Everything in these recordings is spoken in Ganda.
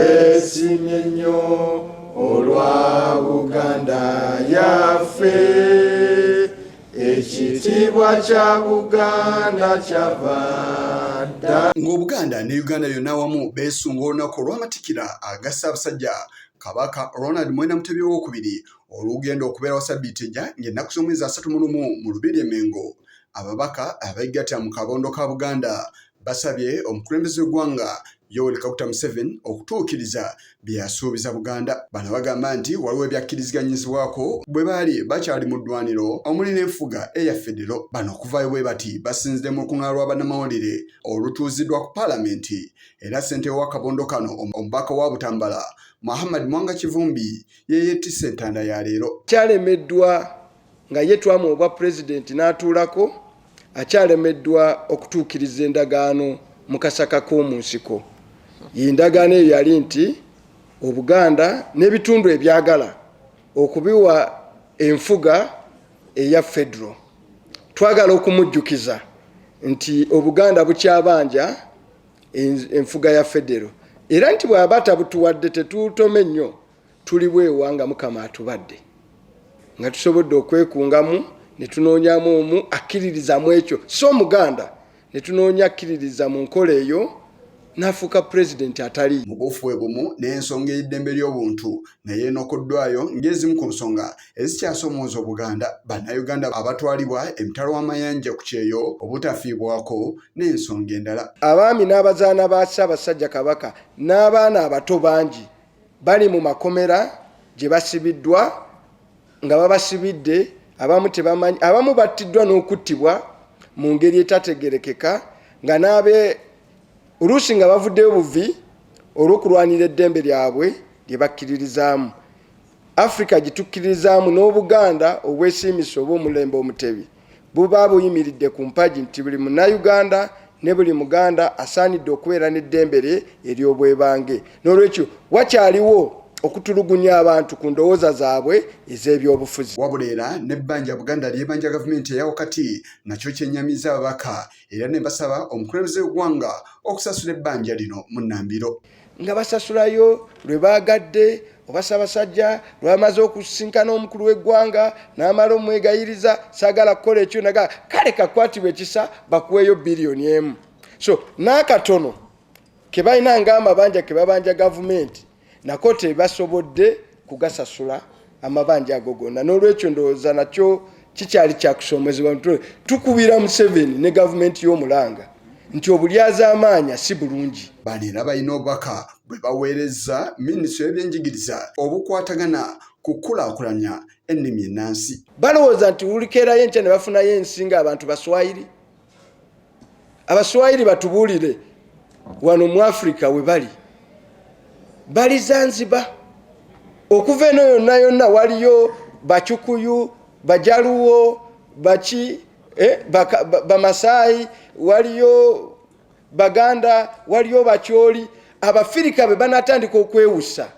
Esimye nnyo olwa Buganda yaffe ekitiibwa kya Buganda kyava dda. Ng'Obuganda ne Uganda yonna awamu beesunga olunaku olw'amatikira aga Ssaabasajja Kabaka Ronald Mwenda Mutebi ow'okubiri olugenda okubeerawo sabbiiti ejja ng'ennaku z'omwezi asatu mu lumu mu Lubiri e Mengo. Ababaka abeegattira mu kabondo ka Buganda Basabye omukulembeze w'eggwanga Yoweri Kaguta Museveni okutuukiriza bye yasuubiza Buganda. Bano bagamba nti waliwo ebyakkiriziganyizibwako bwe baali bakyali mu ddwaniro omuli n'enfuga eya federo. Bano okuvaayo bwe bati basinzidde mu lukungaana lwa bannamawulire olutuuziddwa ku paalamenti era ssentebe w'akabondo kano omubaka wa Butambala Muhammad Mwanga Kivumbi ye yettisse entanda ya leero. Kyalemeddwa nga ye twamu obwa pulezidenti n'atuulako akyalemeddwa okutuukiriza endagaano mu kasaka k'omu nsiko yendagaano eyo yali nti obuganda n'ebitundu ebyagala okubiwa enfuga eya federo twagala okumujjukiza nti obuganda bukyabanja enfuga ya federo era nti bw'aba tabutuwadde tetuutome nnyo tuli bwewa nga mukama atubadde nga tusobodde okwekungamu ne tunoonyamu omu akkiririzamu ekyo si omuganda ne tunoonya akkiririza mu nkola eyo n'afuuka pulezidenti atali mu buufu bwe bumu n'ensonga ey'eddembe ly'obuntu naye enokoddwayo ng'ezimu ku nsonga ezikyasomooza obuganda bannayuganda abatwalibwa emitala w'amayanja ku kyeyo obutafiibwako n'ensonga endala abaami n'abazaana ba ssaabasajja kabaka n'abaana abato bangi bali mu makomera gye basibiddwa nga babasibidde abamu tebamanyi abamu battiddwa n'okuttibwa mu ngeri etategerekeka nga n'abe oluusi nga bavuddeyo buvi olw'okulwanira eddembe lyabwe lye bakkiririzaamu afirika gitukkiririzaamu n'obuganda obwesiimisa oba omulembe omutebi buba buyimiridde ku mpagi nti buli munnayuganda ne buli muganda asaanidde okubeera n'eddembe lye ery'obwebange n'olwekyo wakyaliwo okutulugunya abantu ku ndowooza zaabwe ez'ebyobufuzi wabula era n'ebbanja buganda lyebanja gavumenti eya wakati nakyo kyennyamiza ababaka era ne basaba omukulembeze w'eggwanga okusasula ebbanja lino mu nnambiro nga basasulayo lwe baagadde oba sabasajja lwamaze okusisinkana omukulu w'eggwanga n'amala omwegayiriza saagala kukola ekyo naga kale kakwatibwa ekisa bakuweeyo biliyoni emu so n'akatono ke balina ng'amabanja ke babanja gavumenti nako tebasobodde kugasasula amabanja ago gonna n'olwekyo ndowooza nakyo kikyali kyakusoomozebwa mutwe tukubira museveni ne gavumenti y'omulanga nti obulyazaamaanya si bulungi bano era balina obubaka bwe baweereza minisitule y'ebyenjigiriza obukwatagana ku kukulaakulanya ennimi ennansi balowooza nti wulikeerayo enkya ne bafunayo ensi nga abantu baswayiri abaswahili batubulire wano mu africa webali bali zanziba okuva eno yonna yonna waliyo bacukuyu bajaluwo baki eh, bamasayi ba, ba waliyo baganda waliyo bakyoli abafirika be banatandika okwewusa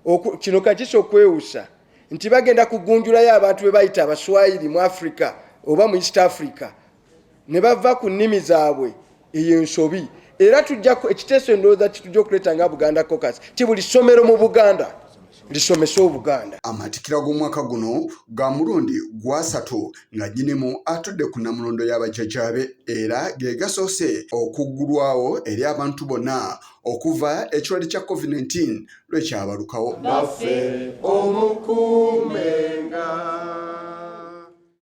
oku, kino kakisa okwewusa nti bagenda kugunjulayo abantu bebayita abaswahili mu africa oba mu east africa ne bava ku nnimi zaabwe eyo ensobi era tujja ekiteeso endowooza kitujja okuleeta nga buganda cocas ti buli ssomero mu buganda lisomese obuganda amatikira g'omwaka guno ga mulundi gwasatu nga nyinimu atudde ku namulondo y'abajjajaabe era ge gasoose okuggulwawo eri abantu bonna okuva ekirwadde kya covid-19 lwekyabalukawo naffe omukuumenga